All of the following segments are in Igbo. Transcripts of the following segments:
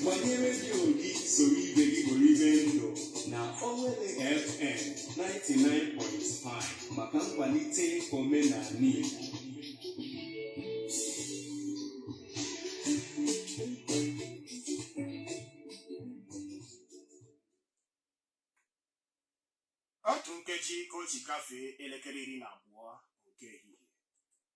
gbanye redio gị soro ibe gị kporibe ndụ na Owelle FM 99.5 maka nkwalite omenala Igbo otu nkeji ka o ji gafee elekere iri na abụọ nke ehihie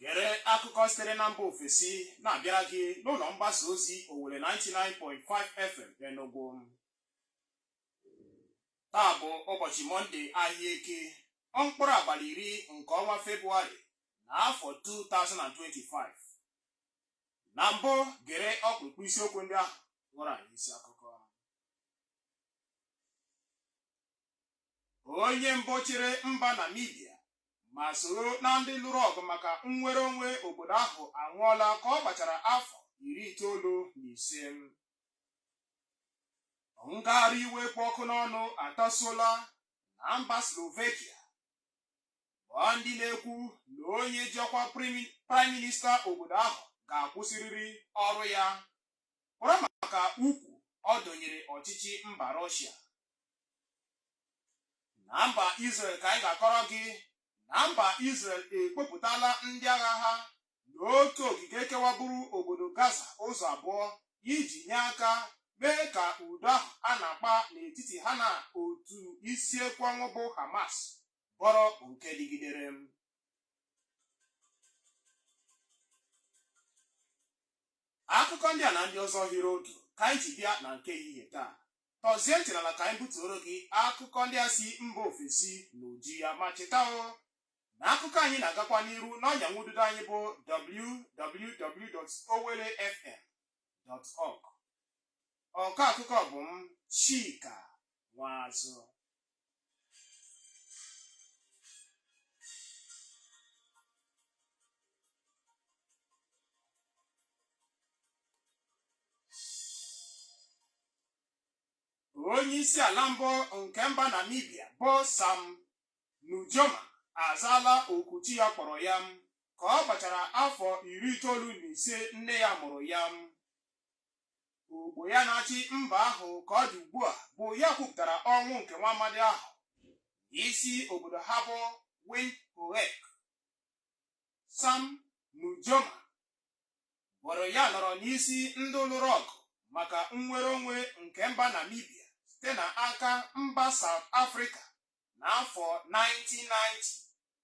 gere akụkọ sitere na mba ofesi na-abịara gị n'ụlọ mgbasa ozi Owelle 99.5 FM Enugu taa bụ ụbọchị mọnde ahịa Eke mkpụrụ abalị iri nke ọnwa febụwarị na afọ 2025 na mbụ gere ọkpụrụkpụ isiokwu ndị ahụ ghọrọ anyị isi akụkọ onye mbụ chịrị mba Namibia ma soro na ndị lụrụ ọgụ maka nnwere onwe obodo ahụ anwụọla ka ọ gbachara afọ iri itoolu na ise ngagharị iwe kpụ ọkụ n'ọnụ atasuola na mba Slovakia bụ ndị na-ekwu na onye ji ọkwa praịm minista obodo ahụ ga-akwụsịrịrị ọrụ ya kwọrọ maka ukwu ọ dọnyere ọchịchị mba Rọshia. Na mba Izrel ka anyị ga-akọrọ gị na mba Izrel ekpopụtala ndị agha ha n'otu ogige kewaburu obodo Gaza ụzọ abụọ iji nye aka mee ka udo ahụ a na-akpa n'etiti ha na otu isi ekwe ọnwụ bụ Hamas bụrụ nke dịgidere akụkọ ndị a na ndị ọzọ hiri otu ka anyị ji bịa na nke ehihie taa tọzie ntị n'ala ka anyị butuoro gị akụkọ ndị a si mba ofesi na uju ya ma cheta o na akụkọ anyị na-agakwa n'iru n'ọnya nwududo anyị bụ www.owellefm.org ọkọ akụkọ bụ m Chika Nwazụ. onye isi ala mbụ nke mba namibia bụ sam nujoma azaala oku chi ya kpọrọ ya ka ọ gbachara afọ iri itoolu na ise nne ya mụrụ ya Ogbo ya na-achị mba ahụ ka ọ dị ugbu a bụ ya kwupụtara ọnwụ nke nwa amadi ahụ n'isi obodo ha bụ Windhoek. Sam Nujoma bụrụ ya nọrọ n'isi ndị lụrụ ọgụ maka nnwere onwe nke mba Namibia site na aka mba South Africa n'afọ 1990.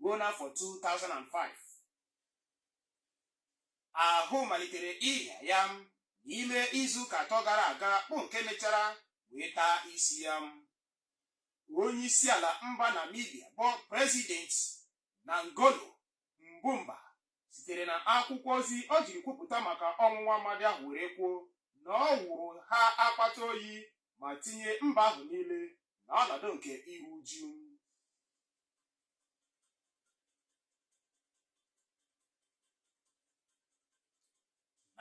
ruo n'afọ 2005 ahụ malitere ịrịa ya n'ime izu ụka atọ gara aga bụ nke mechara wee taa isi ya onye isi ala mba Namibia bụ prezident Nangolo Mbumba sitere na akwụkwọ ozi o jiri kwupụta maka ọnwụ nwa amadị ahụ were kwuo na ọ wụrụ ha akpata oyi ma tinye mba ahụ niile n'ọnọdụ nke iru uju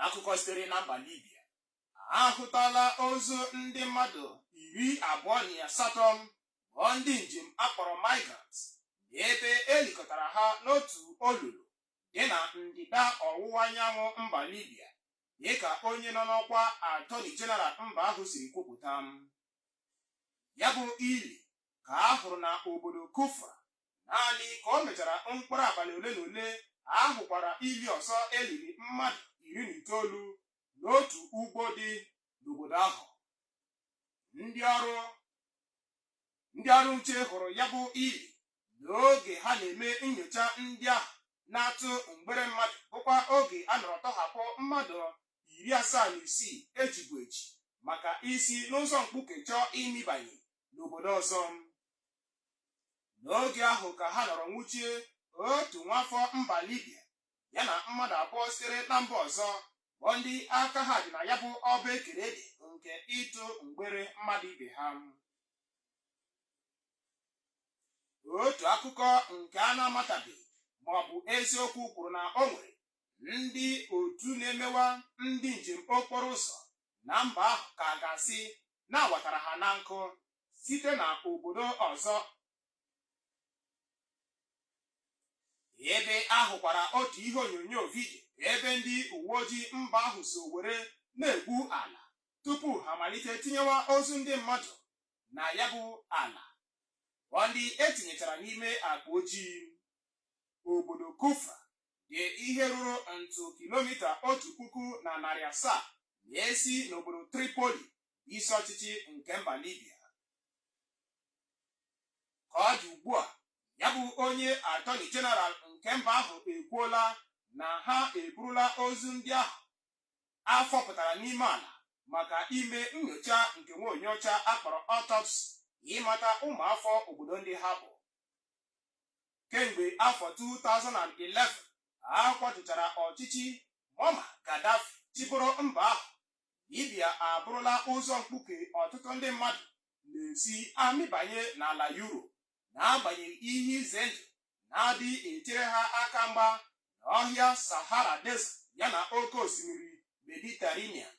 n'akụkọ sitere na mba libya ahụtala ozu ndị mmadụ iri abụọ na asatọ bụ ndị njem akpọrọ migrants n'ebe elikọtara ha n'otu olulu dị na ndịda ọwụwa anyanwụ mba libya dịka onye nọ n'ọkwa atọni jeneral mba ahụ siri kwupụta ya bụ ili ka a hụrụ na obodo Kufra. Naanị ka o mechara mkpụrụ abalị ole na ole, a hụkwara ili ọzọ e liri mmadụ iri na itoolu n'otu ugbo dị n'obodo ahụ. Ndị ọrụ nche hụrụ ya bụ ili n'oge ha na-eme nyocha ndị ahụ na-atụ mgbere mmadụ bụkwa oge a nọrọ tọhapụ mmadụ iri asaa na isii ejibu eji maka isi n'ụzọ mkpuke chọọ ịmịbanye n'obodo ọzọ n'oge ahụ ka ha nọrọ nwụchie otu nwafọ mba Libya ya na mmadụ abụọ sitere na mba ọzọ bụ ndị aka ha dị na ya bụ ọba ekere dị nke ịtụ mgbere mmadụ ibe ha otu akụkọ nke a na-amatabeghị ma ọ bụ eziokwu kwuru na o nwere ndị otu na-emewa ndị njem okporo ụzọ na mba ahụ ka a ga-asị na a watara ha na nkụ site na obodo ọzọ ebe a hụkwara otu ihe onyonyo vidio ebe ndị uwe ojii mba ahụ so were na-egwu ala tupu ha malite tinyewa ozu ndị mmadụ na ya bụ ala bụ ndị etinyechara n'ime akpa ojii obodo Kufra dị ihe ruru ntụ kilomita otu puku na narị asaa na-esi n'obodo Tripoli, isi ọchịchị nke mba Libya. Ka ọ dị ugbu a, ya bụ onye atọni jeneral nke mba ahụ ekwuola na ha eburula ozu ndị ahụ a fọpụtara n'ime ala maka ime nyocha nke nwa onye ọcha akpọrọ autopsy ịmata ụmụafọ obodo ndị ha bụ kemgbe afọ 2011 a kwatuchara ọchịchị Muammar Gaddafi chịbụrụ mba ahụ, Libya abụrụla ụzọ mkpuke ọtụtụ ndị mmadụ na-esi amịbanye n'ala Europe n'agbanyeghị ihe ize ndụ na-adị echere ha aka mgba n'ọhịa Sahara Desert yana oke osimiri Mediterranean.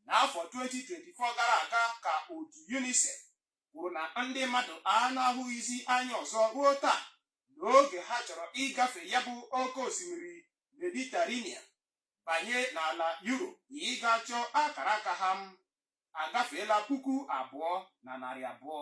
N'afọ 2024 gara aga ka otu UNICEF kwuru na ndị mmadụ a na-ahụghịzi anya ọzọ ruo taa n'oge ha chọrọ ịgafe ya bụ oke osimiri Mediterranean banye n'ala Europe ịga chọọ akara aka ha agafeela puku abụọ na narị abụọ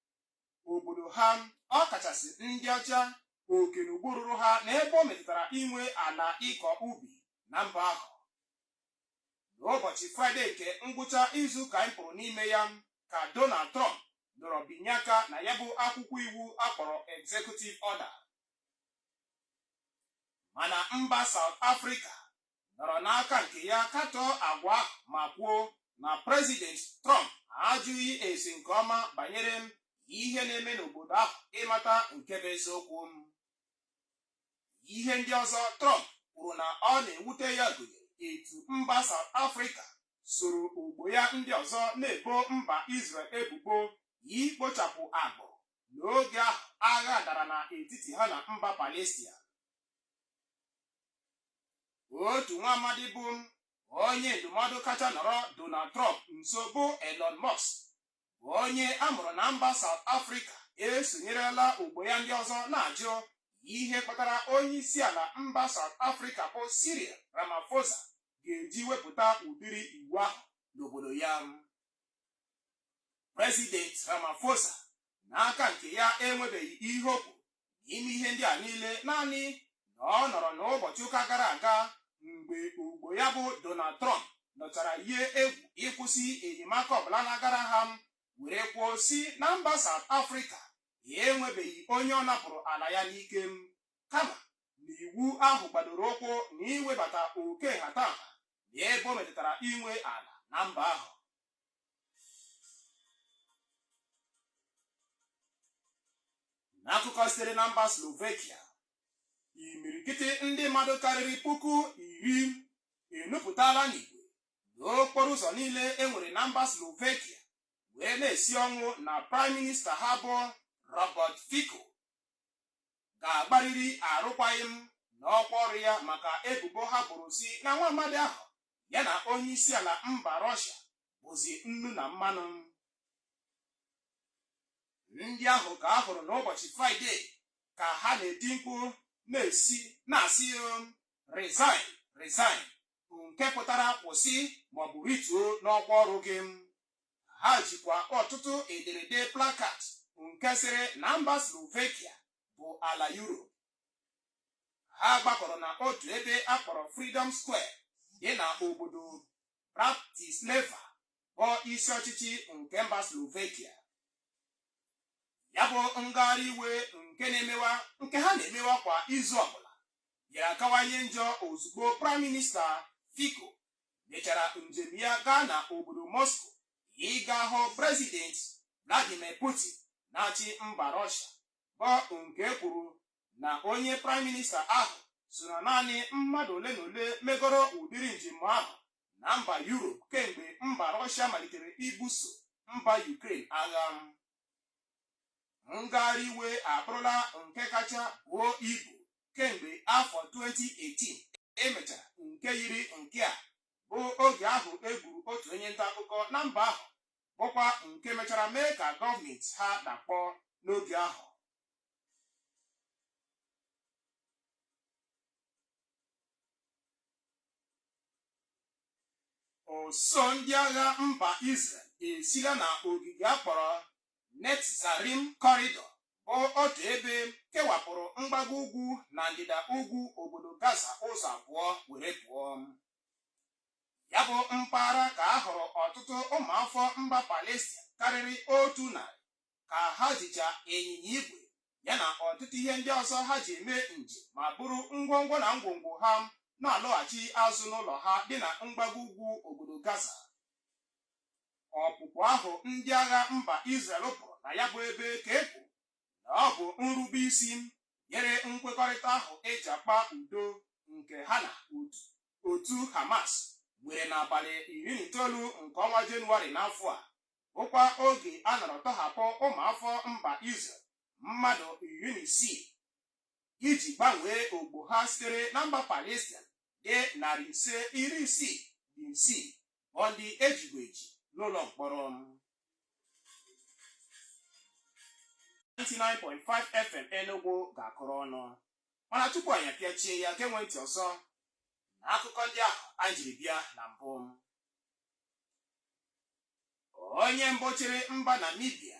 obodo ha ọkachasị ndị ọcha oke na ugwu ruru ha na ebe o metụtara inwe ala ịkọ ubi na mba ahụ n'ụbọchị fraịde nke ngwụcha izu ka anyị pụrụ n'ime ya ka donald trump nọrọ binye aka na ya bụ akwụkwọ iwu a kpọrọ executive order mana mba South Africa nọrọ n'aka nke ya katọọ agwa ahụ ma kwuo na prezident Trump ajụghị ese nke ọma banyere ihe na-eme n'obodo ahụ ịmata nke bụ eziokwu ihe ndị ọzọ Trump kwuru na ọ na-ewute ya gụnyere etu mba South Africa soro ogbo ya ndị ọzọ na-ebo mba Israel ebubo ikpochapụ agbụrụ n'oge ahụ agha dara n'etiti ha na mba Palestia otu nwa amadi bụ onye ndụmọdụ kacha nọrọ Donald Trump nso bụ Elon Musk bụ onye a mụrụ na mba South Africa esonyerela ogbo ya ndị ọzọ na-ajụ ihe kpatara onye isi ala mba South Africa bụ Cyril Ramaphosa ga-eji wepụta ụdịrị iwu ahụ n'obodo ya President Ramaphosa n'aka nke ya enwebeghị ihe o kwuru n'ime ihe ndị a niile naanị na ọ nọrọ n'ụbọchị ụka gara aga mgbe ogbo ya bụ Donald Trump nọchara yie egwu ịkwụsị enyemaka ọbụla na-agara ha were kwuo sị na mba South Africa enwebeghị onye ọ napụrụ ala ya n'ike kama na iwu ahụ gbadoro ụkwụ na iwebata oke nhatanha n'ebe o metụtara inwe ala na mba ahụ n'akụkọ sitere na mba slovakia imirikiti ndị mmadụ karịrị puku iri enupụtala n'igwe n'okporo ụzọ niile e nwere na mba slovakia wee na-esi ọnwụ na praịm minista ha bụ robert fico ga-agbarịrị arụkwaghịm n'ọkwa ọrụ ya maka ebubo ha boro sị na nwa amadi ahụ ya na onyeisiala mba Rọshịa bụzi nnu na mmanụ ndị ahụ ka a hụrụ n'ụbọchị fraịde ka ha na-eti mkpu na-esi na-asị um, resign resign nke pụtara kwụsị maọbụ rituo n'ọkwa ọrụ gị ha jikwa ọtụtụ ederede plakat nke sịrị na mba Slovakia bụ ala Europe ha gbakọrọ na otu ebe a kpọrọ Freedom Square dị na obodo Bratislava bụ isi ọchịchị nke mba Slovakia ya bụ ngagharị iwe nke na-emewa nke ha na-emewa kwa izu ọbụla bịara kawanye njọ ozugbo praịm minista Fico mechara njem ya gaa na obodo Moscow ịga hụ prezident Vladimir Putin na-achị mba Russia bụ nke e kwuru na onye praịm minista ahụ so na naanị mmadụ ole na ole megoro ụdịrị njem ahụ na mba Europe kemgbe mba Rọshịa malitere ibuso mba Ukraine agha ngagharị iwe abụrụla nke kacha buo ibu kemgbe afọ 2018 e mechara nke yiri nke a bụ oge ahụ e gburu otu onye nta akụkọ na mba ahụ bụkwa nke mechara mee ka gọọmenti ha dakpọọ n'oge ahụ ụsụụ ndị agha mba Israel esila na ogige a kpọrọ Netzarim Corridor bụ otu ebe kewapụrụ mgbago ugwu na ndịda ugwu obodo Gaza ụzọ abụọ were pụọ ya bụ mpaghara ka a hụrụ ọtụtụ ụmụafọ mba Palestin karịrị otu narị ka ha jicha ịnyịnya igwe ya na ọtụtụ ihe ndị ọzọ ha ji eme njem ma buru ngwongwo na ngwongwo ha na-alọghachi azụ n'ụlọ ha dị na mgbago ugwu obodo Gaza ọpụpụ ahụ ndị agha mba Israel pụrụ na ya bụ ebe ka e na ọ bụ nrube isi nyere nkwekọrịta ahụ e ji akpa udo nke ha na otu Hamas nwere n'abalị iri na itoolu nke ọnwa Jenụwarị n'afọ a bụkwa oge a nọrọ tọhapụ ụmụafọ mba Israel mmadụ iri na isii iji gbanwee ogbo ha sitere na mba Palestin dị narị ise iri isii na isii bụ ndị e jibu eji n'ụlọ mkpọrọ 99.5 FM Enugu ga-akụrụ ọnụ mana tupu anyị apịachie ya geenụ ntị ọzọ na akụkọ ndị ahụ anyị jiri bịa na mbụ onye mbụ chịrị mba Namibia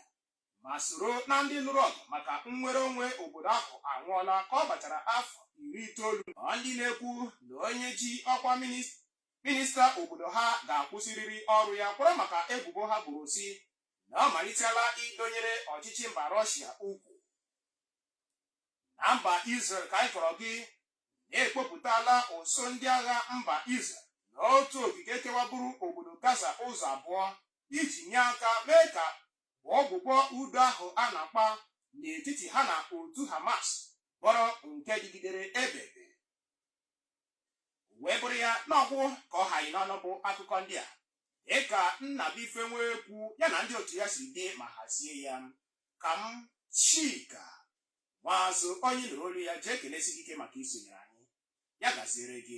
ma soro na ndị lụrụ ọgụ maka nnwere onwe obodo ahụ anwụọla ka ọ gbachara afọ iri itoolu ọ ndị na-ekwu na onye ji ọkwa minista Minista obodo ha ga-akwụsịrịrị ọrụ ya kwara maka ebubo ha boro sị na ọ malitela idonyere ọchịchị mba Rọshia ukwu. Na mba Izrel ka anyị kọrọ gị na e kpopụtala usuu ndị agha mba Izrel na otu ogige kewaburu obodo Gaza ụzọ abụọ iji nye aka mee ka ọgwụgwọ udo ahụ a na-akpa n'etiti ha na otu Hamas bụrụ nke dịgidere ebebe. wee bụrụ ya nnọọ bụ ka ọ ha anyị n'ọnụ bụ akụkọ ndị a dịka Nnabuife Nwekwu ya na ndị otu ya si dee ma hazie ya ka m Chika Nwaazụ onye ị nụrụ olu ya ji ekelesi gị ike maka isonyere anyị ya gaziere gị